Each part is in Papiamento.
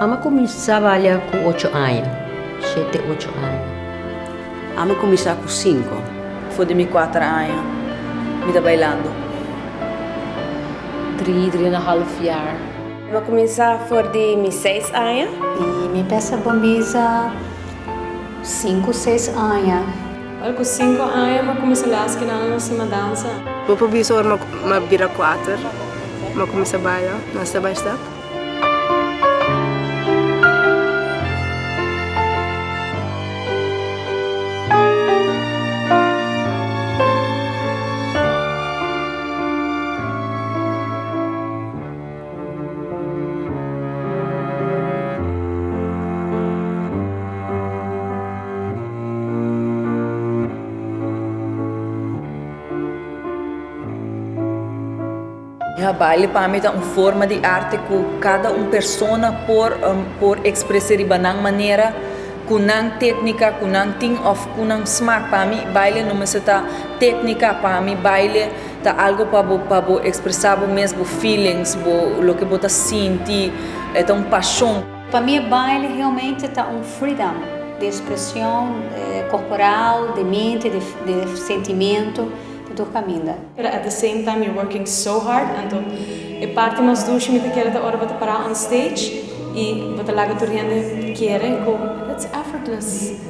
Ama kuminsá balia ku ocho aña, shete ocho aña. Ama kuminsá ku sinku. For di mi kuater aña mi ta bailando. Dri, dri en a half jaar. Mi a kuminsá for di mi seis aña. I mi pesa bo misa sinku, seis aña. Ora ku sinku aña mi a kuminsá lea skinan un sima dansa. Bo por bisa ora mi a bira kuater mi a kuminsá baila nan step by step. Baile pa mi ta un forma di arte ku kada un persona por por ekspres'é riba nan manera, ku nan téknika ku nan tin òf ku nan smak. Pa mi baile no mester ta téknika, pa mi baile Ta algo pa bo pa bo expresa bo mes, bo feelings, bo loke bo ta sinti, e ta un pashon. Pa mi e baile realmente ta un freedom di expresion corporal, di mente, di di sentimento pa tur caminda. Pero at the same time mi working so hard anto e parti mas dushi mi ta kere ta ora bo ta para on stage y bo ta laga tur hende kere cu it's effortless.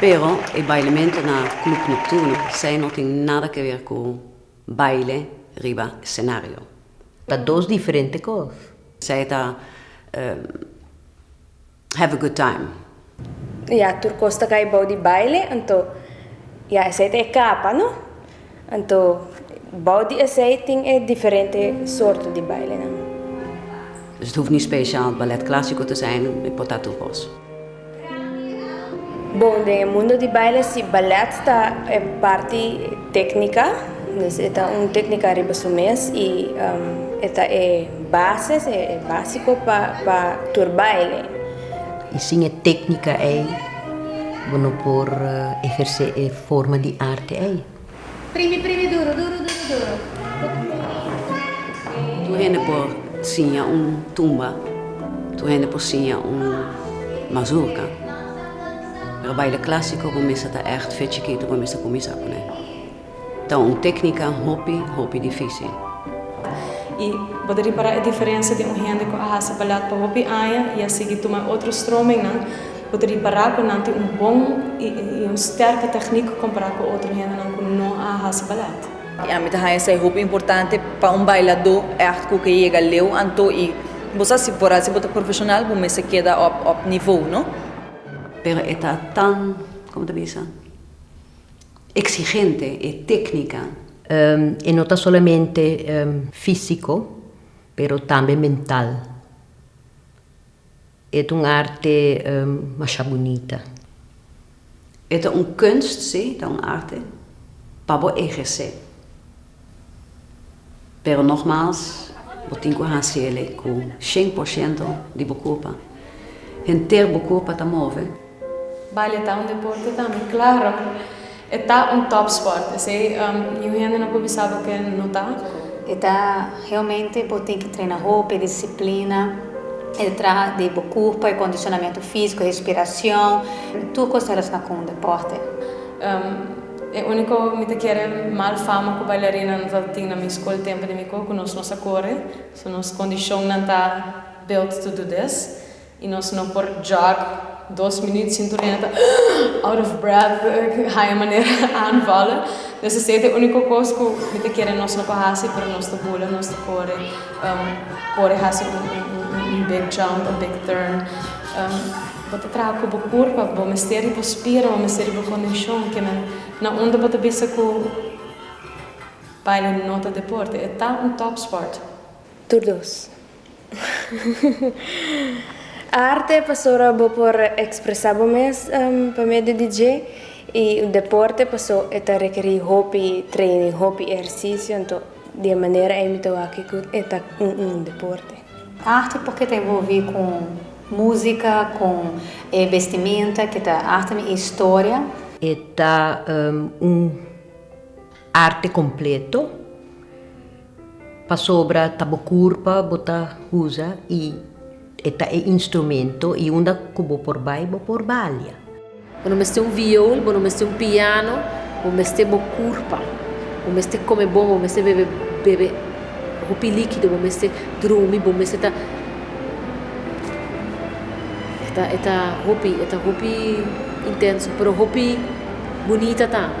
Pero e bailemento na Club Nocturno sai no tin nada ke wer ku baile riba scenario. Ta dos diferente kos. Sai ta have a good time. Ya, tur kos ta kai bou di baile, anto ya esei ta e kapa no, anto bou di esei tin e diferente sorto di bailenan. Dus et hoeft niet speciaal ballet clásico te zijn, e por ta tur kos. Bon, den e mundo di baile si ballet ta e parti téknika, dus e ta un téknika riba su mes i e ta e bases, e básiko pa tur baile. I sin e téknika ei bo no por ehersé e forma di arte ei. Primi primi duru duru duru duru. Tur hende por siña un tumba, tur hende por siña un mazurka, pero baile klásiko bo mester ta ègt fe chikitu bo mester kuminsá ku ne. Ta un téknika hopi, hopi difísil. I bo ta repará e diferensia den un hende ku a hasi balad pa hopi aña i a sigui tuma e otro stromennan, bo ta repará ku nan tin un bon i un stèrke tèknik kompará ku otro hendenan ku no a hasi balad. I ami ta haña sa e hopi importante pa un bailadó ègt ku ke yega leu anto i bo sa si por a si bo ta profeshonal bo mester keda op nivo, no? Pero e ta tan, komo ta bisa? Exigente e tecnica. E no ta solamente fisico pero tambe mental. E ta un arte masha bunita. E ta un kunst, si, ta un arte pa bo eherce. Pero nogmaals, bo tin cu haci eley cu cien por ciento di bo culpa. Henter bo culpa ta move. Baile ta un deporte tambe? Claro! E ta un topsport, esey niun hende no por bisa bo que no ta. E ta realmente, bo tin ki trena hopi, disciplina, e traha di bo curpa, e condicionamento fisico, e respiracion, tur cos ta relaciona cu un deporte. E unico mi ta kere mal fama cu bailarina no ta tin na mi school tempo di mi cu cu nos no sa core so nos condicionnan ta built to do this y nos no por jog dos minuut sin tur hende ta ahh out of breath haya manera aanvallen dus esey ta e unico cos cu mi ta kere nos no por haci pero nos ta bula nos ta core core haci un big jump un big turn. Bo ta traha ku bo kurpa, bo mester i bo spira, bo mester i bo kondishon, kinan na unda bo ta bisa ku baile no ta deporte, e ta un topsport. Tur dos. Arte e pasora bo por ekspresá bo mes pa medio di dje, i deporte pasó e ta rekerí hopi treining, hopi ehersisio, anto di e manera ei mi ta wak ku e ta un deporte. Arte por ke ta envolvi ku musika, ku e bestimenta ke ta arte mi e historia. E ta un arte kompleto pasobra ta bo kurpa bo ta uza i e ta e instrumento i unda ku bo por bai bo por balia. Bo no mester un viol, bo no mester un piano, bo mester bo curpa. Bo mester come bon, bo mester bebe bebe hopi liquido, bo mester drumi, bo mester ta eta eta hopi eta hopi intenso pero hopi bunita tambe.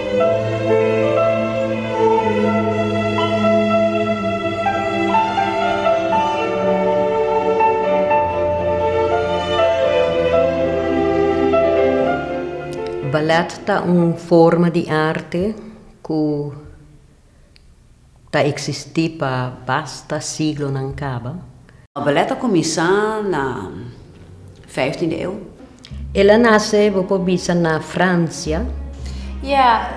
Ballet ta un forma di arte ku. ta eksistí pa basta siglonan kaba. Ballet a kuminsá na vijftien di eu. El a nase, bo por bisa, na Fransia. Ya,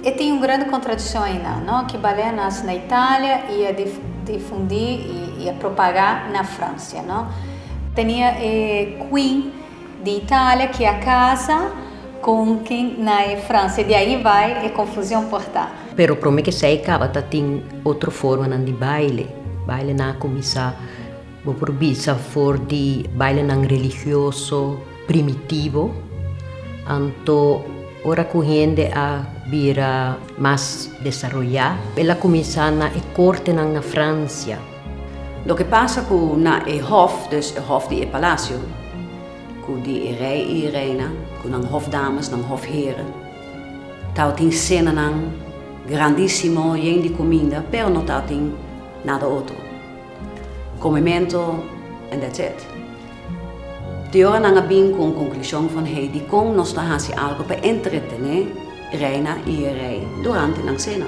e tin un grandi kontradikshon ainan, no? Ki ballet a nase na Italia i a difundí i a propagá na Fransia, no? Tenia e queen. Di Italia ki a casa con kin na e Francia di ahi bai e confusion por ta. Pero prome ki esey caba ta tin otro formanan di baile, bailenan a cuminsa bo por bisa for di bailenan religioso primitivo anto ora cu hende a bira mas desaroya el a cuminsa na e cortenan na Francia. Loke pasa ku na e hòf, dus e hòf di e palasio, ku di e rei i e reina, ku nan hòfdames, nan hòfheren? Tabatin senanan grandísimo, yen di kuminda, pero no tabatin nada otro. Komementu, en dats it. Te ora nan a bin ku un konklushon van hei dikon nos ta hasi algu pa entretené reina i e rei durante nan sena.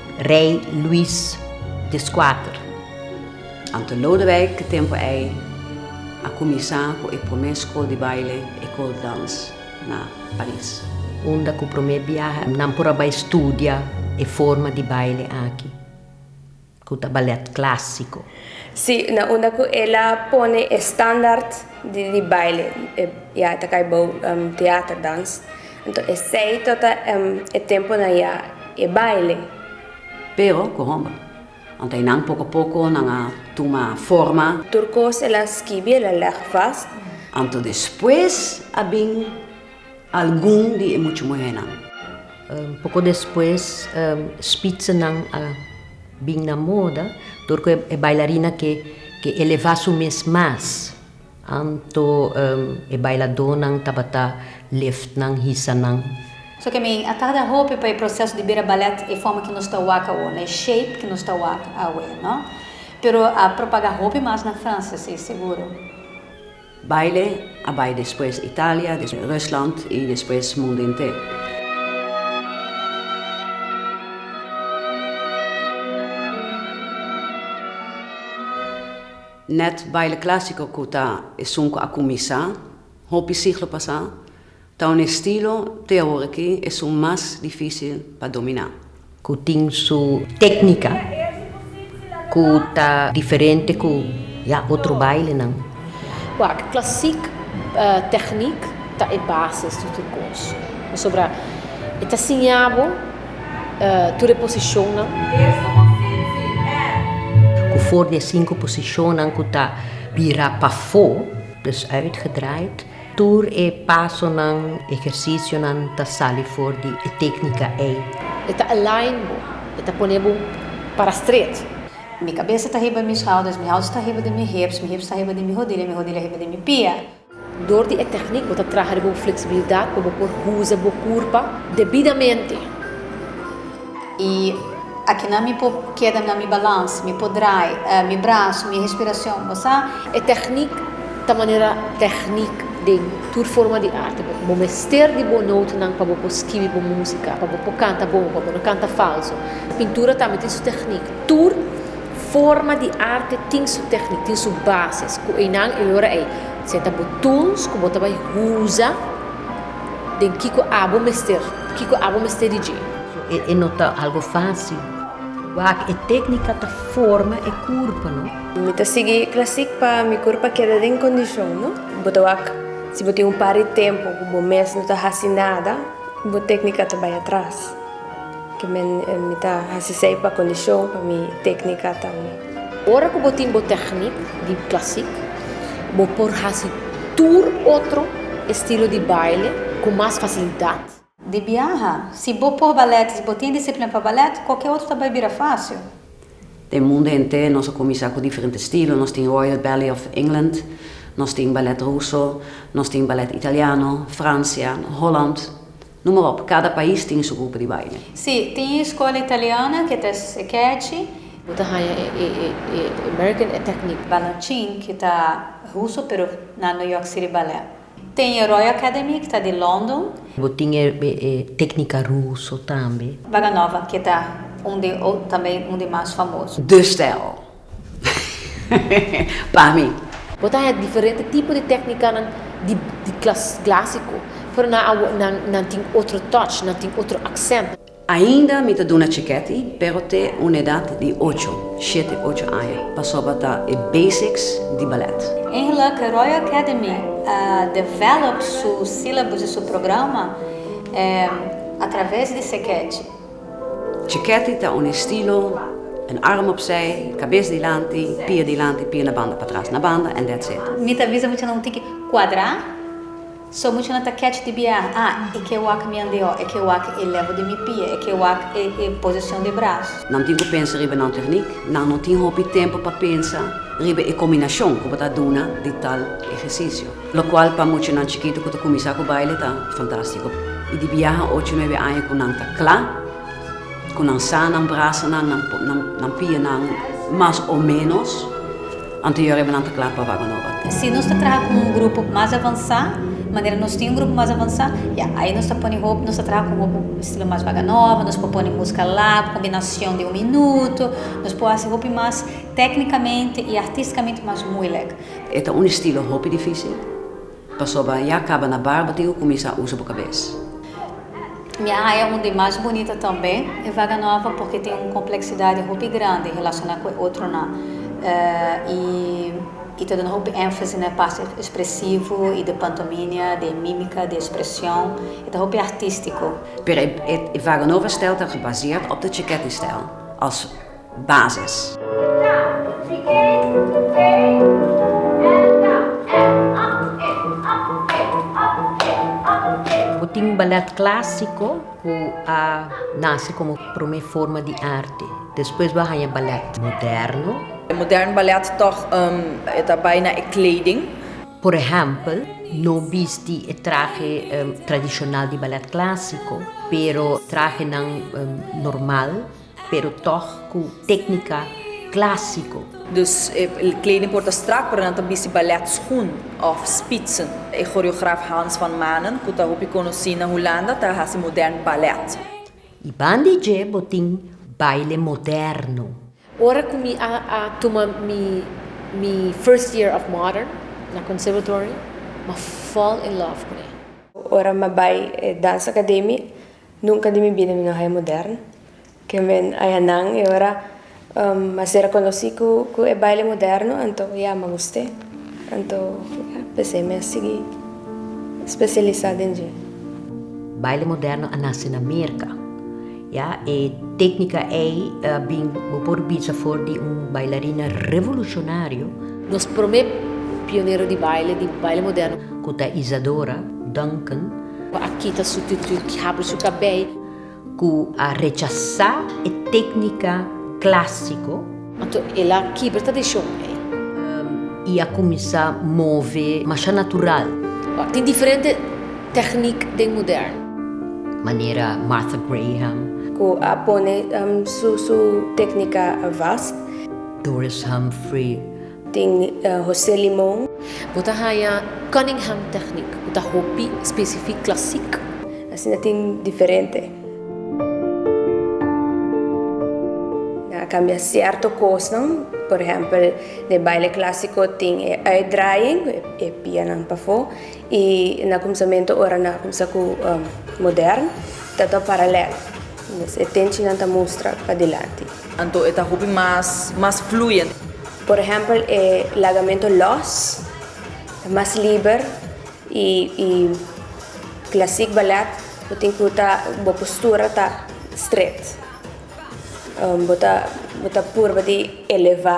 Rei Luis de Squater. Anto Lodewijk te tempo ei a kuminsá ku e promé skol di baile, Ecole de Danse, na Paris. Unda ku promé biaha nan por a bai studia e forma di baile aki, ku ta balèt klásiko. Sí, na unda ku el a pone e standaard di baile, ya e ta kai bou teaterdans. Anto esei tota e temponan ya e baile. Pero ku homber. Anto einan poko poko nan a tuma forma. Tur kos el a skibi el a leg vast. Anto despues a bin algun di e muchu muhernan. Poko despues spitsennan a bin na moda tur ku e bailarina ke eleva su mes mas. Anto e bailadónan tabata lift nan, hisa nan. So ke mi a tarda hopi pa e proseso di bira ballet e forma ke nos ta wak awor, na e shape ke nos ta wak awe, no? Pero a propaga hopi mas na Franse, si, seguro. Baile a bai despues Italia, despues Rusland i despues mundu enter. Nèt baile klásiko ku ta esun ku a kuminsá hopi siglo pasá ta un estilo te awor aki esun mas difísil pa dominá. Ku tin su téknika ku ta diferente ku ya otro bailenan. Wak, klasik tèknik ta e base di tur kos. Pasobra e ta siña bo. tur e posishonnan. Ku for di e sinku posishonnan ku ta bira pafó, dus uitgedraaid, tur e pasonan, ehersisionan, ta sali for di e teknika ei. E ta align bo, e ta pone bo para stret. Mi kabesa ta hiba mi schouders, mi schouders ta hiba di mi hips, mi hips ta hiba di mi hodilha, mi hodilha hiba di mi pia. Dor di e tèknik bo ta traha riba un fleksibilidat pa bo por usa bo kurpa debidamente. I akinan mi por keda na mi balans, mi por drai mi braso, mi respirason, bo sa. E tèknik ta manera tèknik den tur forma di arte. Bo mester di bo noutanan pa bo por skibi bo músika, pa bo por kanta bon, pa bo no kanta falso. Pintura tambe tin su tèknik. Tur. Forma di arte tin su tecnic, tin su bases cu eynan e ora ey se ta bo tools cu bo ta bay usa den kico abo mester, kico abo mester di dje. So e no ta algo facil. Wak e tecnica ta forma e curpa, no? Mi ta sigui e classic pa mi curpa keda den condicion, no? Bo ta wak, si bo tin un par di tempo cu bo mes no ta haci nada, bo tecnica ta bay atras. Ke mi ta hasi esei pa kondishon, pa mi teknika tambe. Ora ku bo tin bo teknik di klasik, bo por hasi tur otro estilo di baile ku mas fasilidat. Di biaha, si bo por balèt i si bo tin disiplina pa balèt, kualke otro ta bai bira fásil. Den mundu henter nos a kuminsá ku diferente estilo. Nos tin Royal Ballet of England, nos tin balèt ruso, nos tin balèt italiano, Fransian, Holland, Numa ròp, kada pais tin su grupo di baile. Sí, tin e skola italiana ke ta es e kechi. Bo ta haña e American e teknik. Balanchín, ke ta ruso pero na New York City Ballet. Tin e Royal Academy ke ta di London. Bo tin e teknika ruso tambe. Baganova, ke ta un di tambe un di mas famoso. De stijl. pa mi. Bo ta hèt diferente tipo di tèknikanan di klasiko, pero nan awor nan tin otro touch, nan tin otro aksènt. Ainda mi ta duna chikèti, pero te un edat di ocho, shete, ocho aña, pasoba ta e basics di balèt. Engeluk ke Royal Academy a develop su sílabus i su programa atraves di sekèchi. Chiketi ta un estilo, un arm opzij, kabes dilanti, pia dilanti, pia na banda patras, na banda and that's it. Mi ta bisa muchanan un tiki cuadra, so muchanan ta catch di biaha, ah e ke wak mi andeho, e ke wak e level di mi pia, e ke wak e e posicion de brazo. Nan tin cu pensa riba nan techniek, nan no tin hopi tempo pa pensa riba e combinacion cu bo ta duna di tal ehercicio. Locual pa muchanan chikitu cu ta cuminsa cu baile ta fantastico. Y di biaha ocho, nuebe aña cu nan ta cla, cu nan sa nan brasanan, nan nan pianan mas o menos, anterior riba nan ta cla pa Vago Nova. Si nos ta traha cu un grupo mas avansa, manera nos tin un grupo mas avansa, ya, ayi nos ta pone hopi, nos ta traha cu hopi estilo mas Vago Nova, nos por pone musca lag, combinacion di un minuto, nos por haci hopi mas tecnicamente y artisticamente mas moeilijk. E ta un estilo hopi dificil, pasobra ya caba na barba tin cu cuminsa usa bo cabes. Mi a haya un di mas bunito tambe, e vaga nova porque tin un complexidad hopi grandi relaciona cu e otronan y y ta duna hopi enfasi na e parte expresivo y di pantominia, di e mimica, di e expresion, e ta hopi artistico. Pero e vaga nova stijl ta gebaseerd op de cheket y stijl, als. bases. Bo tin ballet clásico cu a nace como prome forma di arte. Despues bo a haña ballet moderno. E modern ballet toch e ta bay na e kleding. Por ehempel, no bisti e trahe tradicional di ballet clásico, pero trahenan normal. pero tog cu tecnica clásico. Dus e kleding por ta strak, pero nan ta bisti baletschoen of spitsen. E choreograaf Hans van Manen, cu ta hopi conoci na Hulanda, ta haci modern balet. Y bandi dje bo tin baile moderno. Ora cu mi a a tuma mi mi first year of modern na conservatory, m'a fall in love cu e. Ora m'a bay e Danza Academy, Nunka di mi bida mi no haya modern. Ke men haya nan e ora a ser reconoci cu e baile moderno, anto ya mi a guste. Anto ya p'esey mi a sigui specialisa den dje. Baile moderno a naci na Merca. Ya e tecnica ey a bin, bo por bisa for di un bailarina revolucionario. Nos prome pionero di baile, di baile moderno. Cu ta Isadora Duncan. Cu a kita su tutu ki habri su cabei. Cu a rechasa e tecnica clasico. Anto el a kibra tradicion ei. Y a cuminsa move masha natural. Tin diferente tecnic den modern. Manera Martha Graham. Cu a pone su tecnica wasp. Doris Humphrey. Tin José Limon. Bo ta haña Cunningham Technic, ku ta hopi spesifik klasik. Asina tin diferente. Nan a kambia sierto kosnan, por ehèmpel den baile klasiko tin e uitdraaiing, ku e pianan pafó, i na kumsamentu ora nan a kumsa ku modern, ta ta paralèl. Mes e tenchinan ta mustra padilanti. Anto e ta hopi mas mas fluyente. Por ehempel e lagamento los ta mas liber y y clasic ballet bo tin cu ta bo postura ta stret bo ta bo ta purba di eleva.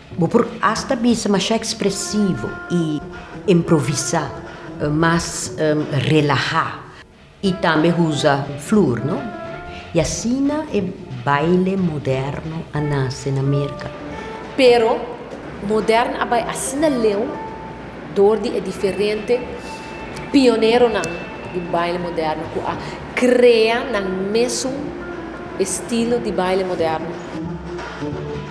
Bo por asta bisa mashá ekspresivo i improvisá, mas relahá i tambe usa flor, no? I asina e baile moderno a nase na Merka. Pero moderno a bai asina leu dor di e diferente pioneronan di baile moderno ku a krea nan mesun estilo di baile moderno.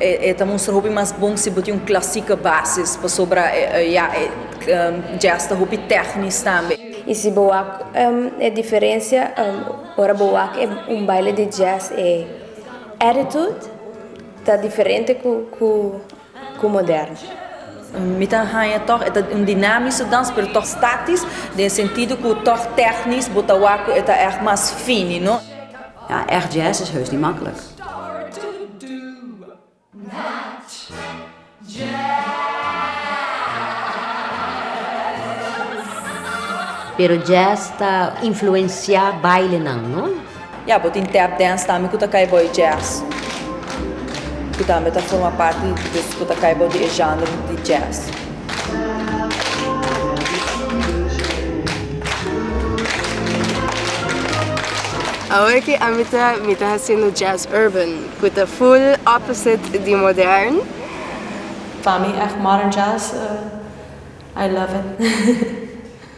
E ta mustra hopi mas bon si bo tin un clasika basis, pasobra ya e jazz ta hopi tèknis tambe. I si bo wak e diferensia ora bo wak un baile di jazz e attitude ta diferente ku moderno. Mi ta haña tòg e ta un dinámiso dans pero tòg státis den sentido ku tòg tèknis bo ta wak ku e ta ègt mas fini no. Ja, ègt jazz is heus ni makkelijk. Pero jazz ta influenciá bailenan, no? Ya, bo tin tap dance tambe ku ta kai bou e jazz, ku tambe ta forma parti di dus ku ta kai bou di e genre di jazz. Awor ki ami ta mi ta haciendo jazz urban cu ta full opposite di modern. Pa mi echt modern jazz I love it.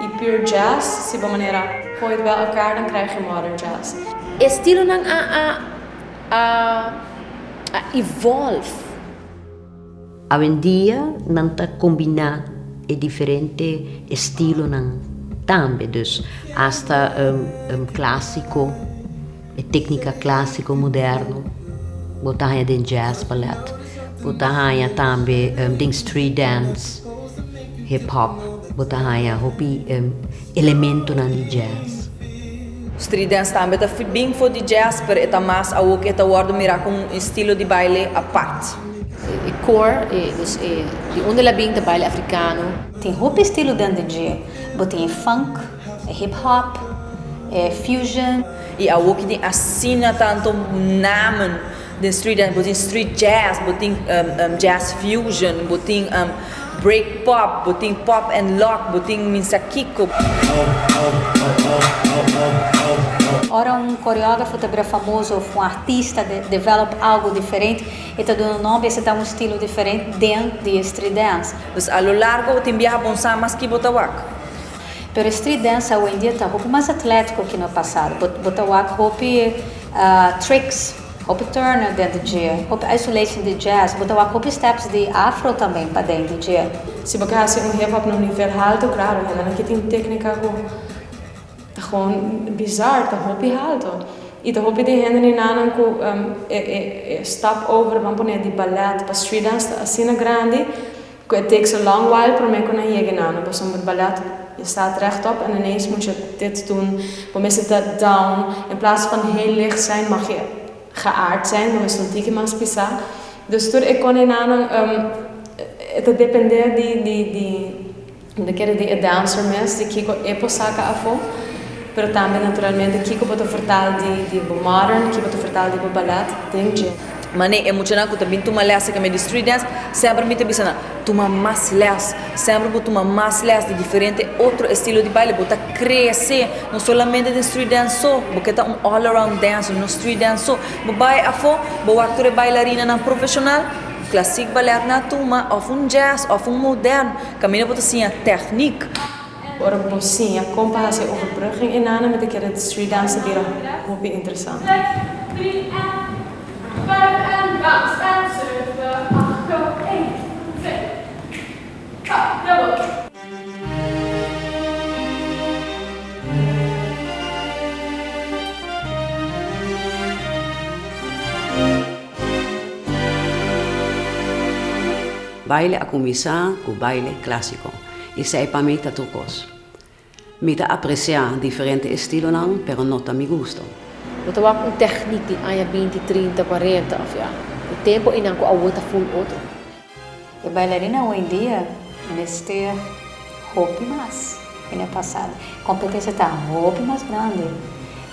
y pure jazz si bo manera gooi het bij elkaar dan krijg je modern jazz. E estilonan a a a a evolve. Awendia nan ta combina e diferente estilonan tambe, dus hasta um um clásico. E téknika klásiko, moderno, bo ta haña den jazz, ballet, bo ta haña tambe den street dance, hip hop, bo ta haña hopi elementonan di jazz. Street dance tambe ta bin for di jazz, pero e ta mas awo ku e ta wòrdu mirá komo un estilo di baile apart. E core, dus e di unda el a bin, ta baile afrikano. Tin hopi estilo dènde dje. Bo tin e funk, e hip hop, e fusion. I awor ki tin asina tanto namen den street dance, bo tin street jazz, bo tin jazz fusion, bo tin break pop, bo tin pop and lock, bo tin minsa kiko. Ora un koreografo ta bira famoso of un artista ta develop algo diferente, e ta duna nom biase ta un estilo diferente den di e street dance. Dus a lo largo tin biaha bon sa mas ki bo ta wak. Pero e street dance awendia ta hopi mas atletico ki na pasado. Bo bo ta wak hopi tricks, hopi turnen den di dje, hopi isolation di jazz. Bo ta wak hopi steps di afro tambe paden di dje. Si bo ke hasi un hip hop na un nivel halto, claro, hendenan ke tin tecnica cu ta gewoon bizar, ta hopi halto. Y ta hopi den hende nenanan cu e e e stap over, bo a pone di ballet pa street dance ta asina grandi. Cu e take so long while prome cu nan yega nano pasobra ballet e staat rechtop en ineens moet je dit doen bo mester dat down in plaats van heel licht zijn mag je geaard zijn bo mester un tiki mas pisa dus tur e con e nanan e ta depende di di di de kere di e dancer mes di kico e por saca afo pero tambe naturalmente kico bo ta vertal di di bo modern kico bo ta vertal di bo ballet den dje. Manei, e muchanan ku ta bin tuma lès aserka mi di street dance, semper mi ta bisa nan, tuma mas lès, semper bo tuma mas lès di diferente otro estilo di baile, bo ta krese, no solamente den street dance so, bo ke ta un all around dancer, no street dance so, bo bai afó, bo wak tur e bailarinan profeshonal, klasik balèt nan a tuma, òf un jazz, òf un modèn, kaminda bo ta siña tèknik. Ora bo siña kon pa hasi e overbrugging i nana mi ta kere street dance ta bira hopi interesante. Baile a cuminsa cu baile clásico. Esei pa mi ta tur kos. Mi ta apresiá diferente estilonan, pero no ta mi gusto. Bo ta wak un tèknik di aña binti, trinta, kuarenta òf ya e tempu einan ku awor ta ful otro. E bailarina hoindia mester hopi mas den e pasado. E kompetensia ta hopi mas grandi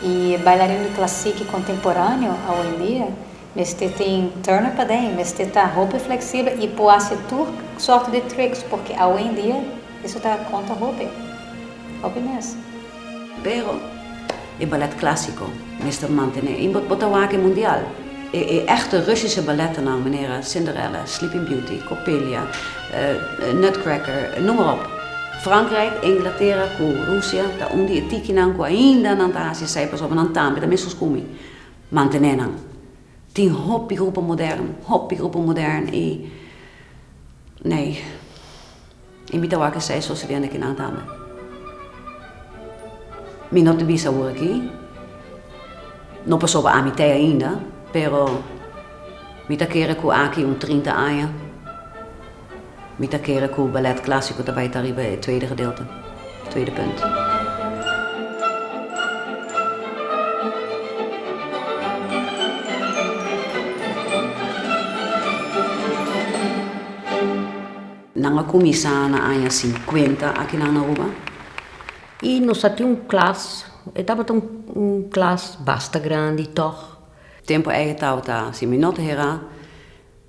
i e bailarin di klasiki kontemporáneo awoindia. Mester tin turner pa den, mester ta hopi fleksibel i por hasi tur sort di tricks porque awendia eso ta konta hopi. Hopi mes. Pero e ballet clásico mester mantene i bo ta wak e mundial. E e echte Russische balletnan manera Cinderella, Sleeping Beauty, Coppelia, Nutcracker, noem maar op. Frankrijk, Inglatera cu Rusia ta un di e tikinan cu ainda nan ta hasi esei pasobra nan tambe ta mescos cu mi. Mantenénan. Tin hopi grupo modern, hopi grupo modern i nee, i mi ta wak esei sosediendo aki nan tambe. Mi no ta bisa ora aki, no pasoba ami te ainda, pero mi ta kere ku aki un trinta aña. Mi ta kere ku Ballet Clásico ta bai ta riba e tweede gedeelte, tweede punt. Nan a kuminsá na aña sinkuenta akinan na Aruba i nos a tin un klas, e tabata un klas basta grandi tòg. Tempu ei tabata, si mi no ta herá.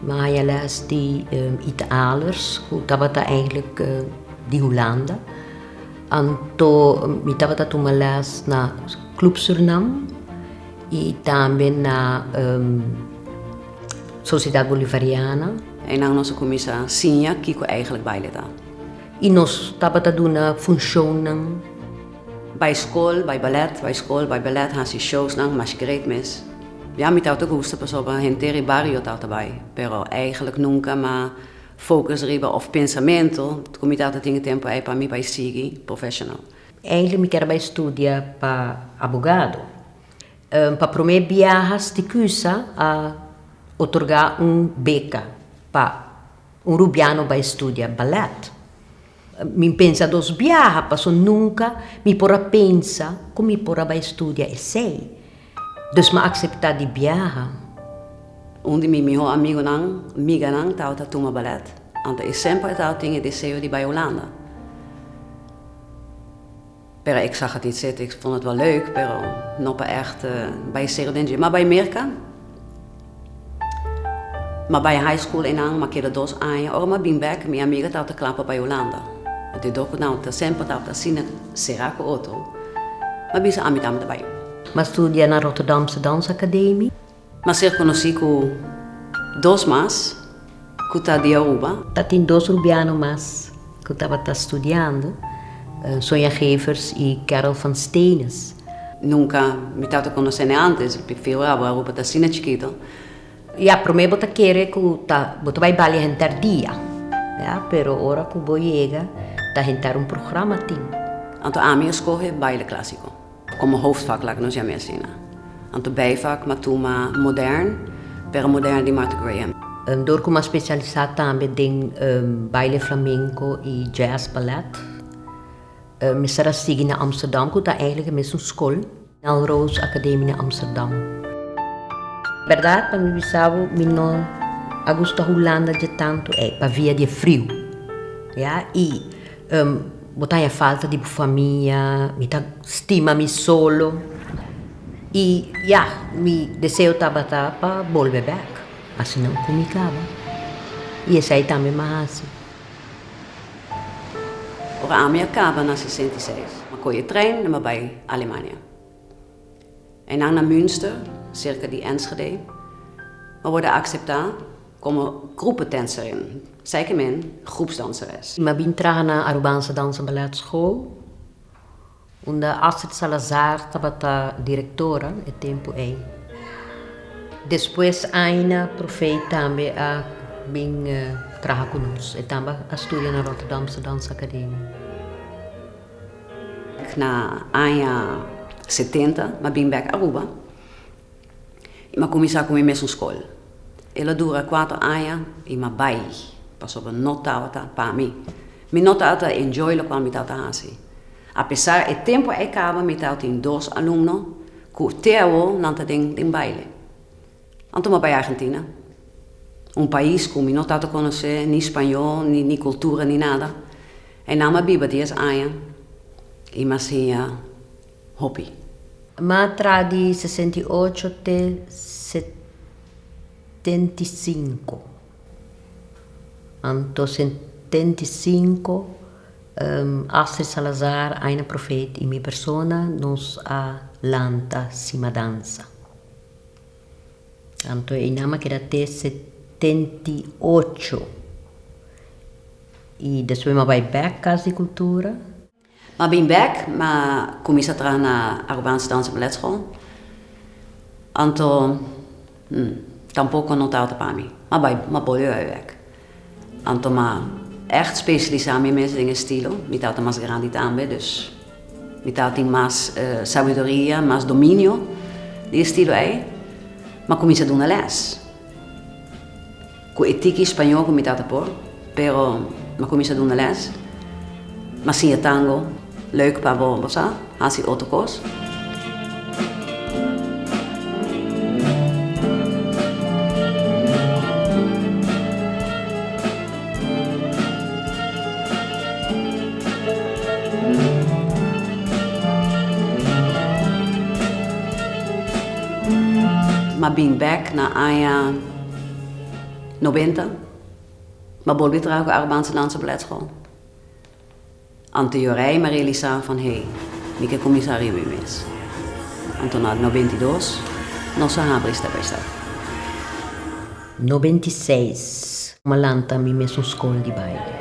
Maya les di Italers ku tabata eindelijk di Hulanda. Anto mi tabata tuma les na Club Surinam i tambe na Sociedad Bolivariana. I nan nos a kuminsá siña kiko eindelijk baile ta. I nos tabata duna funshonnan. Bai skol, bai ballet, bai skol, bai ballet, hasi showsnan, masquerade mes. Ya, mi tawata gusta pasobra henter e bario tawata bai, pero eigenlik nunka mi a focus riba of pensamentu ku mi tawata tin e tempu ei pa mi bai sigui professional. Eigenlik mi keda bai studia pa abogado. Pa promé biaha Sticusa a otorga un beka pa un rubiano bai studia ballet. Mi pensa dos biaha paso nunca mi por a pensa cu mi por a bay studia esey. Dus m'a acepta di biaha. Un di mi miho amigonan, miganan, tabata tuma ballet, anto e semper a taba tin e deseo di bay Hulanda. Pero ik sa hatit sete, ik fon het wel leuk, pero no pa echt bai serio den dje. Ma bai Merka, ma bai high school einan, ma keda dos aña. Ora ma bin bek, mi amiga tabata kla pa bai Hulanda. But e doku tabata, semper tabata asina sera ku otro. Ma bisa ami tambe ta bai. Ma studia na Rotterdamse Dansacademie. Na ser conoci cu dos mas cu ta di Aruba. Ta tin dos Rubiano mas cu tabata studiando, Sonia Gevers y Carol van Steenis. Nunca mi tata conocene antes, mi figuraba Aruba ta asina chikito. Ya, prome bo ta kere cu ta, bo ta bay bali hentar dia, ya, pero ora cu bo yega ta hentar un programa tin. Anto ami a scoge baile clasico. Komo hoofdvak laga nos yam'e asina. Anto bijvak matuma modern, pero modern di Martha Graham. Dor ku mas specialisa tambe den baile flamenco y jazz ballet. Mester a sigui na Amsterdam ku ta eigenlijk e mesun skol, Melrose Academy na Amsterdam. Berdad pa mi bisa bo mi no a gusta Hulanda dje tantu ey pavia di e friu ya y. Bo ta haña falta di bo famia, mi ta stima mi solo, i ya, mi deseo tabata pa bolbe bèk, asina ku mi kaba, i esei tambe mi a hasi. Ora ami a kaba na sesenta i seis, mi a koyo e tren i mi a bai Alemania. Einan na Münster, serka di Enschede, a worda akseptá komo gruppedanserin, zeker men groepsdanseres. M'a bin traha na Arubanse Dans en Ballet School, unda Astrid Salazar tabata direktora e tempu ei. Despues Aina Profeet tambe a bin traha ku nos, e tambe a studia na Rotterdamse Dansacademie. Na aña setenta m'a bin bèk Aruba i m'a kuminsá ku mi mesun skol. El a dura kuater aña i m'a bai pasobra no tabata pa mi. Mi no ta tabata enjoy lokual mi tabata hasi. Apesar e tempu a e kaba mi tabatin dos alumno ku te awor nan ta den den baile. Anto mi a bai Argentina, un pais ku mi no tato konosé ni spañó, ni ni kultura, ni nada. Einan mi a biba dies aña i mi a siña hopi. Mi a tra di sesenta i ocho te setenta i sinku. Anto setenta i sinku, Astrid Salazar, Aina Profeet i mi persona nos a lanta si madansa. Tanto e nama keda te setenta y ocho y despues mi a bai bek Cas di Cultura. Mi a bin bek, mi a cuminsa traha na Arubaanse Dans en Ballet School. Anto, hm, tampoco no ta alta pa mi. Mi a bai, mi a bolbe bai bek. Anto m'a ègt spesialisá mi mes den e stilo. Mi tata mas grandi tambe, dus mi ta tin mas sabiduria, mas dominio di e stilo ei. M'a kuminsá duna lès ku e tiki spañó ku mi tata por, pero m'a kuminsá duna lès, m'a siña tango. Leuk pa bo, bo sa hasi otro kos. M'a bin bek na aña noventa. M'a bolbe traha ku Arubanse Dansa Baletschool. Anto jorá i me realisá van hei, mi ke kuminsá riba mi mes. Anto na nobenta i dos nos a habri Step by Step. Nobenta i seis Bo a lanta mi mes un skol di baile.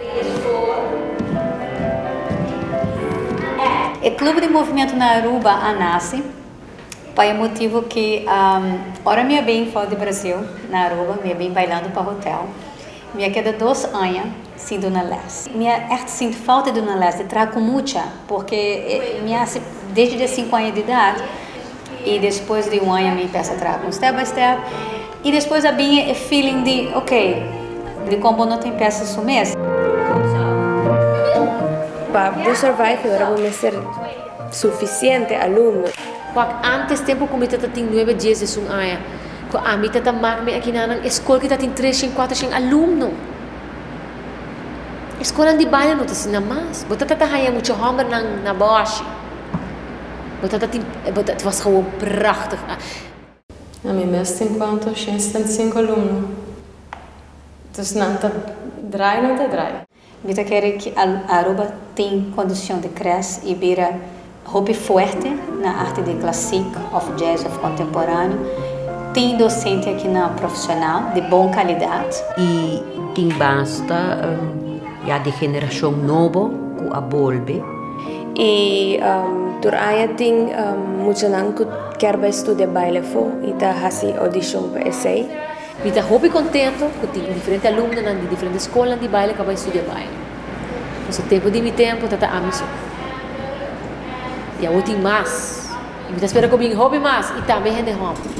E Club di Movimiento na Aruba a naci pa e motivo ki ora mi a bin for di Brasil na Aruba mi a bin bailando pa hotel. Mi a keda dos aña sin duna les. Mi a ègt sinti fouta di duna les di traha ku mucha, porque mi a hasi desdi di a sinku aña di edat, i despues di un aña mi pesa traha kon step by step, i despues a bin e feeling di ok, di kon bo no tin pesa su mes. Pa bo survive mi ora bo mester sufisiente alumno. Wak antes tempu ku mi ta ta tin nuebe dies di sun aña. Cu ami ta ta maak mi akinanan e scol ki ta tin treshen, cuatrochen alumno. E scolan di baño no ta asina mas. Bo ta ta ta haña mucha hombernan na boshi. Bo ta ta tin, bo ta, het was gewoon prachtig. Ami mes tin cuanto? Shen seten, cinco alumno. Dus nan ta draai, nan ta draai. Mi ta kere ki Aruba tin kondishon di kres i bira hopi fuerte na arte di klasik òf jazz òf kontemporáneo. Tin dosente aki na profeshonal di bon kalidat. I tin basta ya di generashon nobo ku a bolbe. I tur aña tin muchanan ku ker bai studia baile afó i ta hasi odishon pa esei. Mi ta hopi contento cu tin diferente alumnonan di diferente scolnan di baile ca bai studia baile. Pasobra tempo di mi tempo ta ta ami so. Y awor tin mas. Y mi ta spera cu bin hopi mas y tambe hende homber.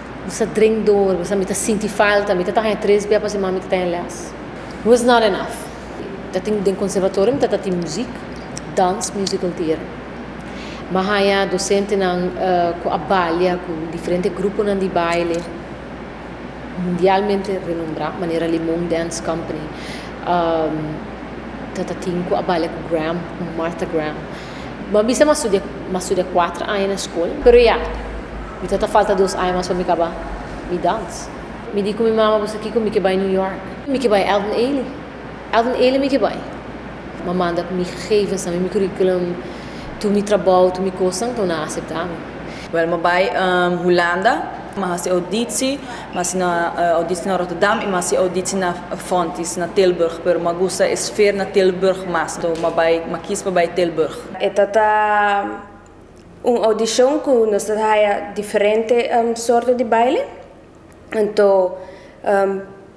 Bu sa drink dor, bu sa mi ta sinti falta, mi ta ta haña tres bia pa semana mi ta ta haña lès. Was not enough. Ta tin den conservatorio mi ta ta tin muziek, dans, musical theatre. M'a haña docentenan cu a balia cu diferente gruponan di baile mundialmente renombra, manera Limon Dance Company, ta ta tin cu a balia cu Graham, cu Martha Graham. Bo a bisa mi a studia, mi a studia kuater aña na skol, pero ya, mi ta ta falta dos aña mas pa mi kaba mi dans. Mi di ku mi mama, Pasobra kiko mi ke bai New York? Mi ke bai Alvin Ailey. Alvin Ailey mi ke bai. Mi a manda mi gegevensnan, mi curriculum, tur mi trabou, tur mi kosnan, pa mi nan aseptá mi. Wèl, mi a bai Hulanda. Mas hasi auditsi, mas hasi na auditsi na Rotterdam y mas hasi auditsi na Fontys na Tilburg, pero ma gusta e sfeer na Tilburg mas, entonces ma bay, ma kies pa bay Tilburg. E ta ta un audicion cu nos ta ta haya diferente soorto di baile, ento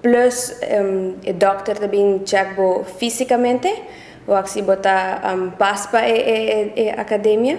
plus e dokter ta bin check bo fisicamente, wak si bo ta pas pa e academia,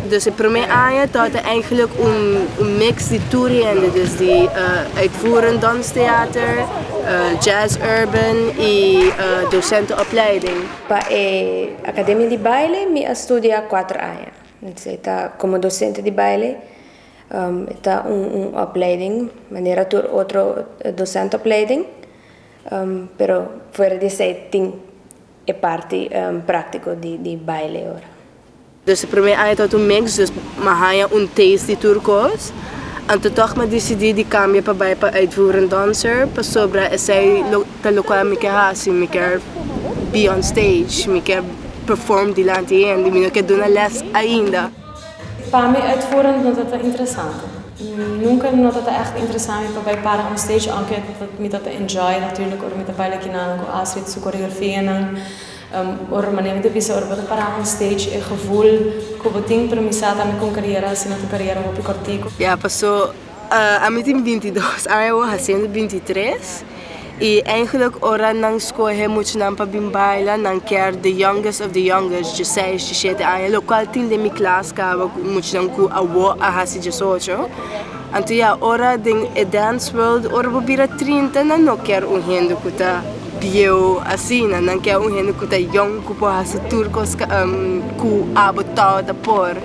Dus e promé aña ta ta eigenlijk un un mix di tur hende, dus di uitvoerend danstheater, jazz-urban i dosenteopleiding. Pa e Academia di Baile mi a studia kuater aña, esei ta komo dosente di baile, e ta un un opleiding manera tur otro dosenteopleiding, pero fuera di esei tin e parti práktiko di di baile ora. Nos e prome aña ta un mix dus m'a haña un taste di tur cos. Anto tog m'a dicidi di cambia pa bay pa uitvoerend dancer pasobra esey lo ta locual mi ke haci, mi kier be on stage, mi kier perform dilanti hende, mi no kier duna les ainda. Pa mi uitvoerend no ta ta interesante. Nunca no ta ta echt interesa mi pa bay para on stage, aunke mi ta ta enjoy natuurlijk ora mi ta baila kinan cu Astrid su coreografia nan. Ora bo manera ta bisa, ora bo ta pará un stage e gevoel ku bo tin pero mi sa ta ami kon kariera asina ta kariera hopi kòrtiku. Ya pasó ami tin binti dos aña awor hasiendo binti tres i eigenlik ora nan skohe muchanan pa bin baila nan kier the youngest of the youngest dje seis dje shete aña lo kual tin den mi klas kaba muchanan ku awor a hasi djes ocho anto ya ora den e dance world ora bo bira trinta nan no kier un hende ku ta. Bieu asina nan kier un hende cu ta jong cu por haci tur cos cu abo too ta por.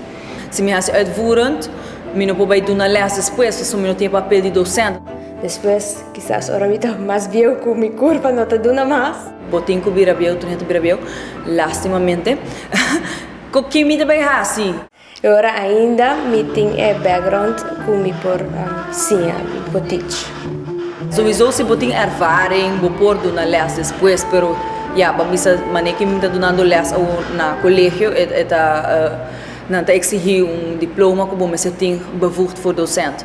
Si mi haci uitvoerend, mi no por bay duna les despues, pasobra mi no tin e papel di docent. Despues, kisas ora mi ta mas bieu cu mi curpa no ta duna mas. Bo tin cu bira bieu, tur hende ta bira bieu, lastimamente. Cu kin mi ta bay haci? E ora ainda mi tin e background cu mi por siña, mi por teach. Sowiso si bo tin ervaring bo por duna les despues, pero ya bo a bisa mane ki mi ta dunando les awor na colegio e ta nan ta exigi un diploma cu bo mester tin bevoegd voor docent.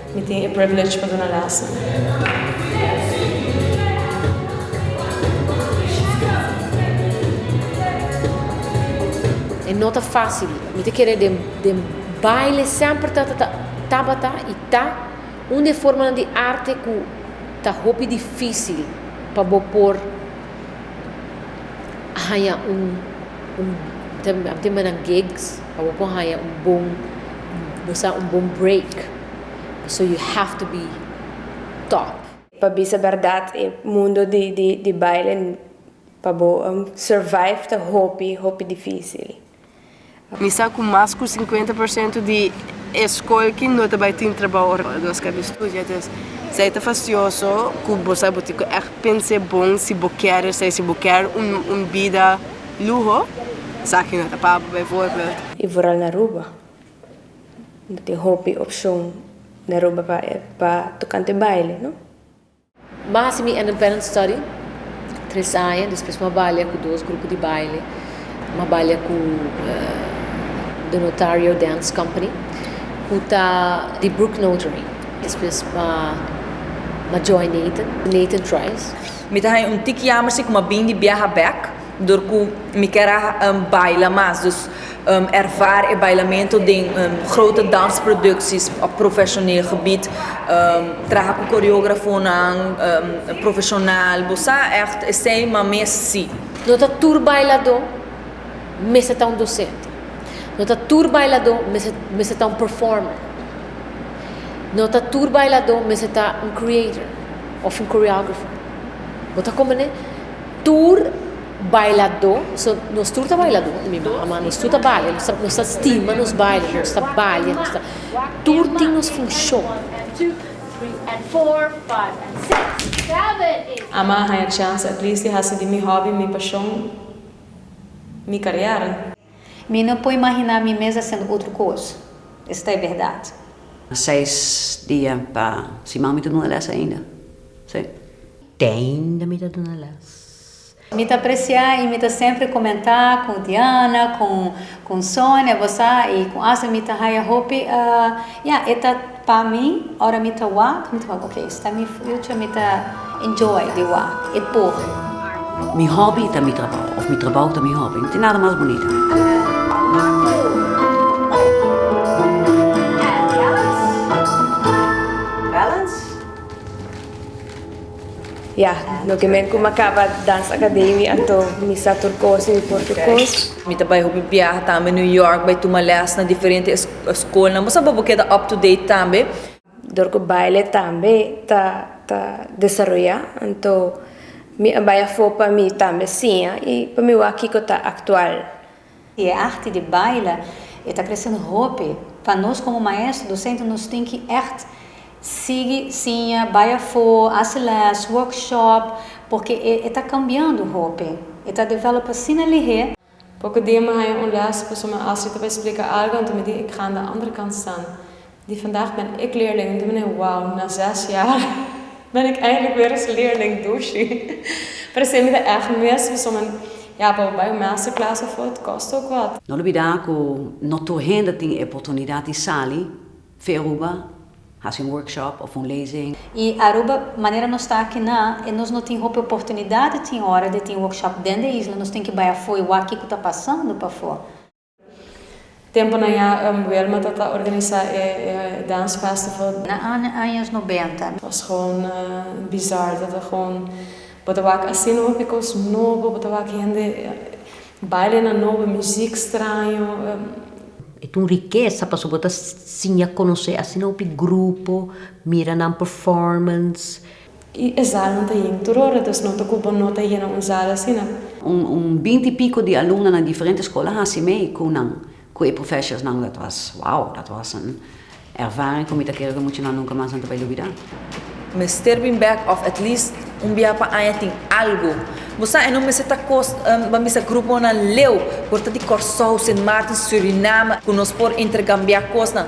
Mi tin e privilege pa duna lèson. E no ta fásil. Mi ta kere den baile semper ta ta tabata i ta un di e formanan di arte ku ta hopi difísil pa bo por haña un, mi ta bin haña gigs. Pa bo por haña un bon bo sa un bon break so you have to be top. Pa bisa berdad e mundo di di di baile pa bo survive ta hopi hopi dificil. Mi sa cu mas cu cincuenta por ciento di e scolki no ta bay tin trabao ora nos cambia estudia entonces esay ta facioso cu bo sa bo tin cu echt pense bon si bo kier esay si bo kier un vida. Luho, Saki no ta pabo bijvoorbeeld. I vooral na Aruba. No tin hopi opcion na Aruba pa tocante baile, no? Ma hasi mi independent study tres aña, despues m'a balia cu dos grupo di baile. M'a balia cu The Notario Dance Company, cu ta di Brooke Notary. Despues m'a join Nathan, Nathan Trice. Mi ta haña un tik yamer si ku mi a bin di biaha bèk, dor ku mi kier a baila mas. Dus ervare e bailamentu den grote dansprodukties òf profeshoneel gebied. Traha ku koreografonan profeshonal. Bo sa ègt esei? Ma mes si. No ta tur bailadó mester ta un dosente. No ta tur bailadó mester ta un performer. No ta tur bailadó mester ta un creator. Of un choreographer. Bo ta komprende? Tur bailadó, so nos tur ta bailadó na mi manga, ma nos tur ta balia, nos ta stima nos baile, nos ta balia, nos ta, tur tin nos funshon. Ama a haña chans at least di hasi di mi hòbi mi pashon, mi kariera. Mi no por imaginá mi mes haciendo otro cos. Esta e berdad. Seis dia pa siman mi ta duna les ainda. Si. Te ainda mi ta duna les. Mi ta apreciá i mi ta sempri comentá cu Diana, con Sonia, bo sa, i cu Astrid mi ta haya hopi, ya, e ta. Pa mi ora mi ta wak mi ta wak ok esta mi future mi ta enjoy di wak e por. Mi hobby ta mi trabou of mi trabou ta mi hobby no tin nada mas bonita. Ya, loke men ku mi a kaba Dans Akademi anto mi sa tur kos i por tur kos. Mi ta bai hopi biaha tambe New York bai tuma lès na diferente eskolnan. Bo sa pa bo keda up to date tambe. Dor ku baile tambe ta desaroyá, anto mi a bai afó pa mi tambe siña i pa mi wak kiko ta aktual. I e arti di baila e ta kresendo hopi. Pa nos komo maestro, dosente nos tin ki ègt sigui siña, bai afó, hasi lès, workshop, porque e ta kambiando hopi, e ta develop asina lihé. Poko dia mi haña un lès, pasobra mi hasi ta bai splika algu, anto mi di, Ik ga na andere kant staan. Di vandag ben ik leerling dominee wauw na zes jaar ben ik eindelijk weer eens leerling doshi parece mi ta echt mis pasobra men ja pa bai un masterclass of e kost ook wat. No olbida ku no tur hende tin e oportunidad di sali for Aruba hasi un workshop of un lezing. I Aruba manera nos ta aki na e nos no tin hopi oportunidad tin ora di tin workshop den de isla nos tin ki bai afo i wak kico ta pasando pafo. Tempunan ya Wilma ta ta organisa e dance festival. Na años nobenta. Nos gewoon bizar ta ta gewoon bo ta wak asina hopi cos nobo bo ta wak hende baile nan nobo music straño. E ta un rikesa paso bo ta siña conoce asina hopi grupo mira nan performance. Y e zalnan ta yen tur ora, entonces no ta cu bo no ta yena un zal asina. Un binti y pico di alumnan na diferente escola haci mee cu nan, cu e professors nan. Dat was wow, dat was un ervaring cu mi ta kere cu muchanan nunca mas nan ta bay lubida. Mester bin bek of at least un bia pa aña tin algo. Bo sa e no mester ta cos bo a misa gruponan leu por ta di Corsou, Sint Maarten, Suriname cu nos por intergambia cosnan.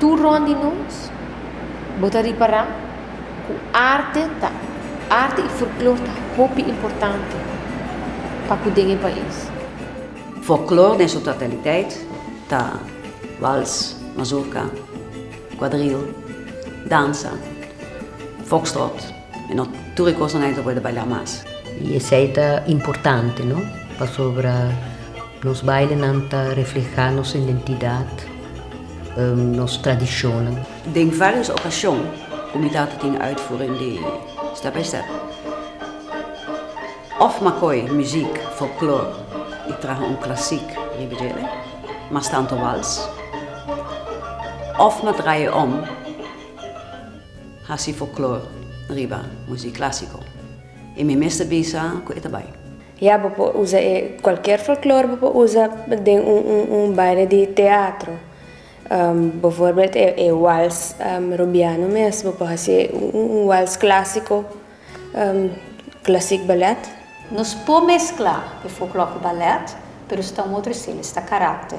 Tur rond di nos, bo ta ripará ku arte ta arte i folklor ta hopi importante pa ku den e pais. Folklor den su totaliteit ta wals, mazurka, kuadril, dansa, fokstrot. E no tur e kosnan ei ta por ta bailá mas. I esei ta importante, no? Pasobra nos bailenan ta reflehá nos identidat, nos tradishonnan. Den vários okashon ku mi tata tin uitvoering di Step by Step, òf Makoy muziek, folklor i traha un klasik riba dj'e, mas tantu wals, òf m'a draai'e om. Hasi foklor riba muzik klasiko. I mi mester bisa ku e ta bai. Ya, bo por usa e. Kualker foklor bo por usa den un baile di teatro. Bo voorbeeld e wals Rubiano mes, bo por hasi un wals klasiko, klasik balèt. Nos por mesklá e foklor ku balèt, pero sta un otro estilo, esta karakter.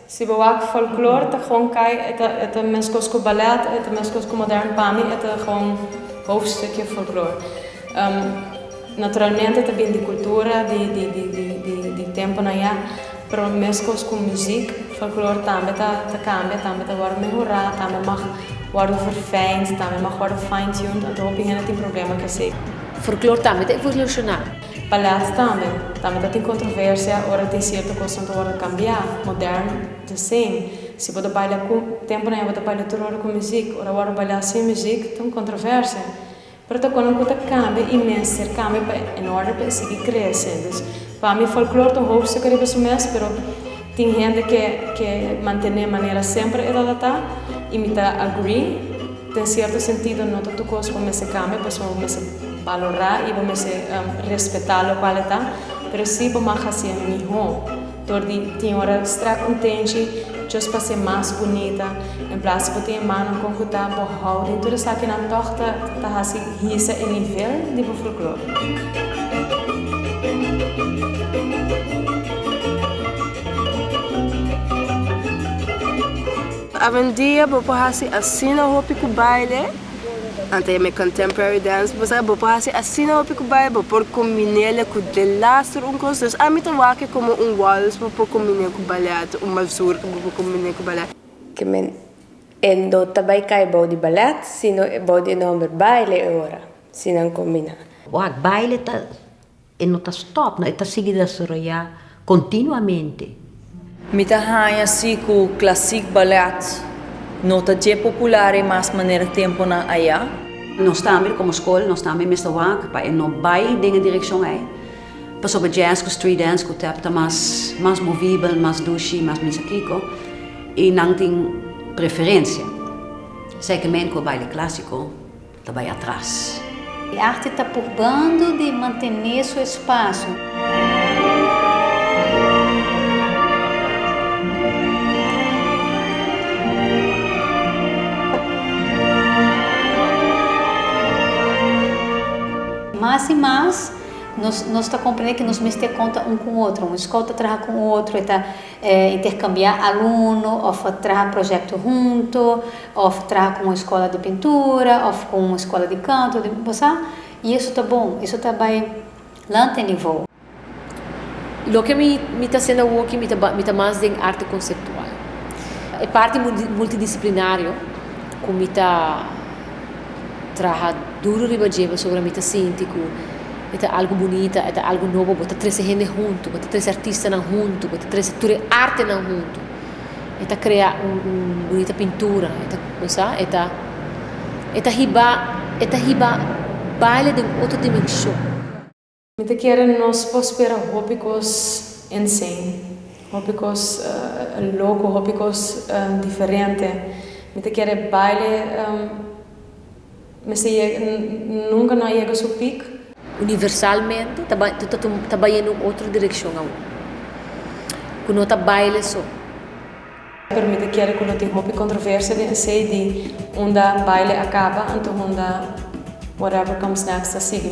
Si bo wak folklor ta gewoon kai e ta meskos ku ballet e ta meskos ku modern pa mi e ta gewoon hoofdstukje folklor naturalmente ta bin di kultura di tempunan ya pero meskos ku muzik folklor tambe ta kambia tambe ta wòrdu mehorá tambe mag wòrdu verfijnd tambe mag wòrdu fine tuned anto hopi hende tin problema ku esei. Folklor tambe ta evolushona. Pa lèt tambe. Tambe ta tin kontroversia ora tin sierto kosnan ta wòrdu kambiá, modern, desen. Si bo ta baila ku, tempu nan e bo ta baila tur ora ku muzik, ora wòrdu bailá sin muzik, ta un kontroversia. Pero ta konan ku ta kambia i mester kambia pa en orde pa e sigui krese. Dus, pa mi folklor ta un hoofdstuk ariba su mes, pero. Tin hende ke ke mantené manera semper e tatatá i mi ta agree. Den sierto sentido no ta tur kos bo mester kambia pasobra bo mester balorá i bo mester respetá lokual e ta, pero sí bo mag hasié mihó dor di tin ora strek un tenchi just pa ser mas bunita. En plas bo tin e mano konkuta bo hou den tur esakinan tòg ta hasi hisa e nivel di bo folklore. Awendia bo por hasi asina hopi ku baile, ante e contemporary dance bo sabi bo por hasi asina hopi ku baile bo por kombin'el ku delaster un kos. Ami ta wak komo un wals bo por kombin'é ku balèt, un mazurka bo por kombin'é ku balèt. ke men e no ta bai kai bou di ballet, sino e bou di e nòmber baile e ora si nan kombiná. Wak baile ta e no ta stòp no, e ta sigui desaroyá kontinuamente. Mi ta haña si ku klasik ballet no ta dje popular e mas manera tempunan ayá. Nos tambe komo skol, nos tambe mester wak pa e no bai den e direkshon ei. Pasobra jazz ku street dance ku tap ta mas mas movibel, mas dushi, mas misa kiko, i nan tin preferensia. Esei ke men ku a baila klasiko ta bai atras. E arte ta purbando di mantené su espasio. Mas i mas. Nos nos ta comprende que nos mester conta un cu otro. Un scout ta traha cu un otro, e ta eh intercambia aluno, of traha projecto hunto, of traha con un escola di pintura, of con un escola di canto, di bo sa. Y eso ta bon, eso ta bay lante nivo. Loke mi mi ta haciendo awoki mi ta ba mi ta mas den arte conceptual. E parti multi multidisciplinario cu mi ta. traha duru riba dje pasobra mi ta sinti ku e ta algu bunita, e ta algu nobo, bo ta trese hende huntu, bo ta trese artistanan huntu, bo ta trese tur e artenan huntu, e ta krea un un bunita pintura, e ta kuminsá e ta e ta hiba e ta hiba baile den otro dimenshon. Mi ta kere nos por spera hopi kos ensen, hopi kos loko, hopi kos diferente. Mi ta kere e baile mester yega, nunka no a yega su peak. Universalmente ta bai, ta tuma, ta bai en un otro direkshon awor, ku no ta baile so. Pero mi ta kere ku lo tin hopi kontroversia den esei di unda baile a kaba, anto unda whatever comes next ta sigui.